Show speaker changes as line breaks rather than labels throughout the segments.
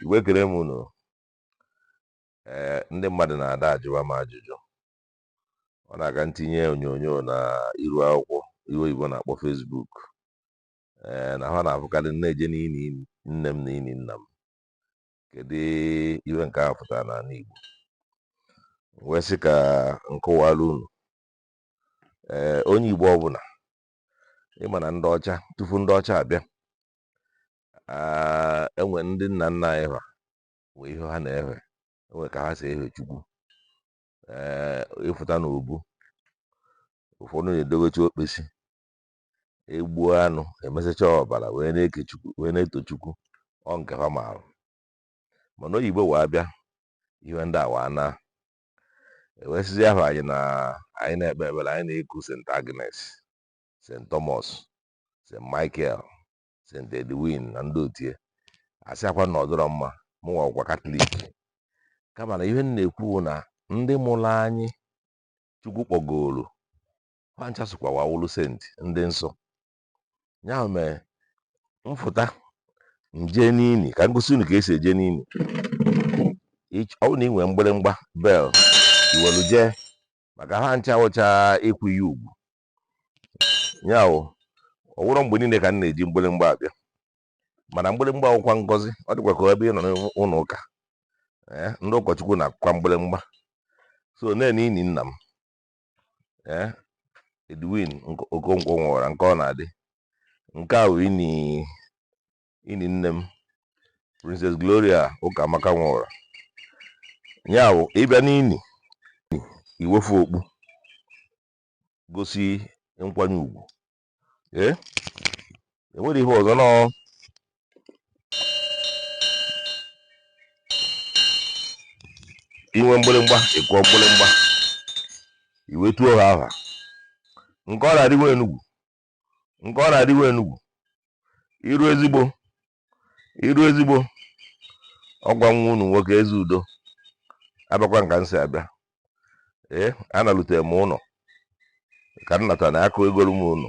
Igbo ekene m unu ee ndị mmadụ na-ada ajụwa m ajụjụ ọ na-aga ntinye onyonyo na iru akwụkwọ ihe oyibo na-akpọ Facebook ee na ha na-afụkarị m na-eje n'ini nne m na ini nna m kedu ihe nke a fụtara n'anị Igbo m wee sị ka m kọwaara unu ee onye Igbo ọbụla ịma na ndị ọcha tupu ndị ọcha abịa enwe ndị nna nna anyị ha nwee ihe ha na-ehe enwe ka ha si ehe chukwu ee ịfụta na obu ụfọdụ na-edobecha okpesi egbuo anụ emesacha ọbara wee na-eku chukwu wee na-eto chukwu ọ nke ha maara mana oyibo wee abịa ihe ndị a wee naa e wee sịzịa anyị na anyị na-ekpe ekpere anyị na-eku St. Agnes St. Thomas St. Michael St. Edwin na ndị otu a asịakwa m na ọ dịrọ mma mụnwa wụkwa katọlik kama na ihe m na-ekwu na ndị mụrụ anyị chukwu kpọgoro ha ncha sokwa wa wụrụ senti ndị nsọ ya mere mfụta nje n'ini ka ngosi unu ka esi eje n'ini ọ wụ na ị nwere mgbịrịmgba bel iwelu jee maka ha ncha wụcha ịkwanye ugwu ya wụ ọ wụrọ mgbe niine ka m na-eji mgbịrịmgba abịa mana mgbịrịmgba wụkwa ngọzi ọ dịkwa ka ebe ị nọ n'ụnọ ụka ndị ụkọchukwu na-akụkwa mgbịrịmgba so nene ini nna m ee Edwin Okonkwo Nworah Nkaọnadị nke a wụ ini nne m Princess Gloria Ụkamaka Nworah ya wụ ịbịa n'ini iwefu okpu gosi nkwanye ugwu ee enwere ihe ọzọ nọọ inwe mgbịrịmgba ị kụọ mgbịrịmgba i wee tuo ha aha Nkaọnadị nwa Enugwu Nkaọnadị nwa Enugwu iru ezigbo iru ezigbo ọ kwa nwa unu nwoke Ezeudo abịakwa m ka m si abịa ee analute m ụnọ ka m nata na akụ egolu m unu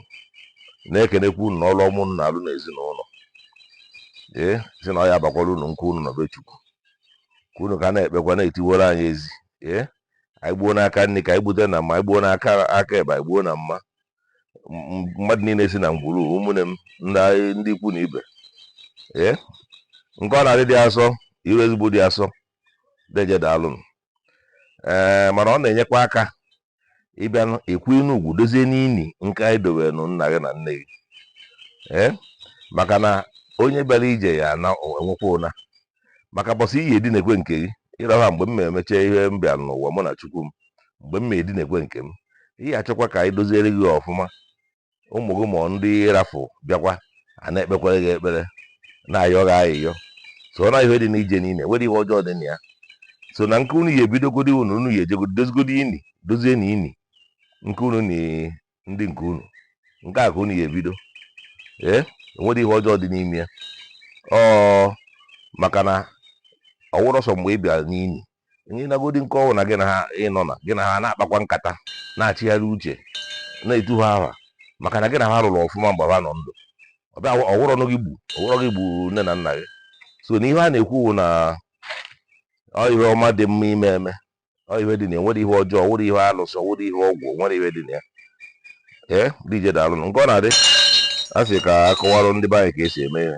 na-ekenekwa unu n'ọrụ ọma unu na-alụ n'ezinụlọ ee si na ọ ya abakwara unu nke unu nọ be chukwu ka unu ka na-ekpekwa na-etiwere anyị ezi ee anyị gbuo n'aka nri ka anyị gbute na mma anyị gbuo n'aka ekpe anyị gbuo na mma mmadụ niile si na ngwuru ụmụnne m ndị ikwu na ibe ee nke ọ na-adị dị asọ iru ezigbo dị asọ deje daalụ ee mana ọ na-enyekwa aka ịbịa ekwu inu ugwu dozie n'ini nke anyị dowe nụ nna gị na nne gị ee maka na onye bịara ije ya na-enwekwa ụna maka mbọsị ị ya-edinekwe nke gị ịrọha mgbe m na-emecha ihe m bịa n'ụwa mụ na chukwu m mgbe m na-edinekwe nke m ị ya-achọkwa ka anyị doziere gị ọfụma ụmụ gị ma ndị ị rafụ bịakwa a na-ekpekwere gị ekpere na-ayọ gị ayịyọ so na ihe dị n'ije niile nwero ihe ọjọọ dị na ya so na nke unu ya ebidogodi unu unu ya ejegodi dozigodi ini dozie na ini nke unu na ndị nke unu nke a ka unu ya ebido ee o nwero ihe ọjọọ dị n'ime ya ọ maka na ọ wụrọ sọ mgbe ị bịara n'ini onye nagodi nke ọnwụ na gị na ha ịnọ na gị na ha na-akpakwa nkata na-achịgharị uche na-etu ha aha maka na gị na ha rụrụ ọfụma mgbe ha nọ ndụ ọ bịa ọ wụrọ gị gbu ọ wụrọ gị gbu nne na nna gị so na ihe a na-ekwu na ọ ihe ọma dị mma ime eme ọ ihe dị na ya nwero ihe ọjọọ nwero ihe alụsị nwero ihe ọgwụ nwero ihe dị na ya ee deje daalụnụ nke ọ na-adị a sị ka a kọwarụ ndị be anyị ka e si eme ihe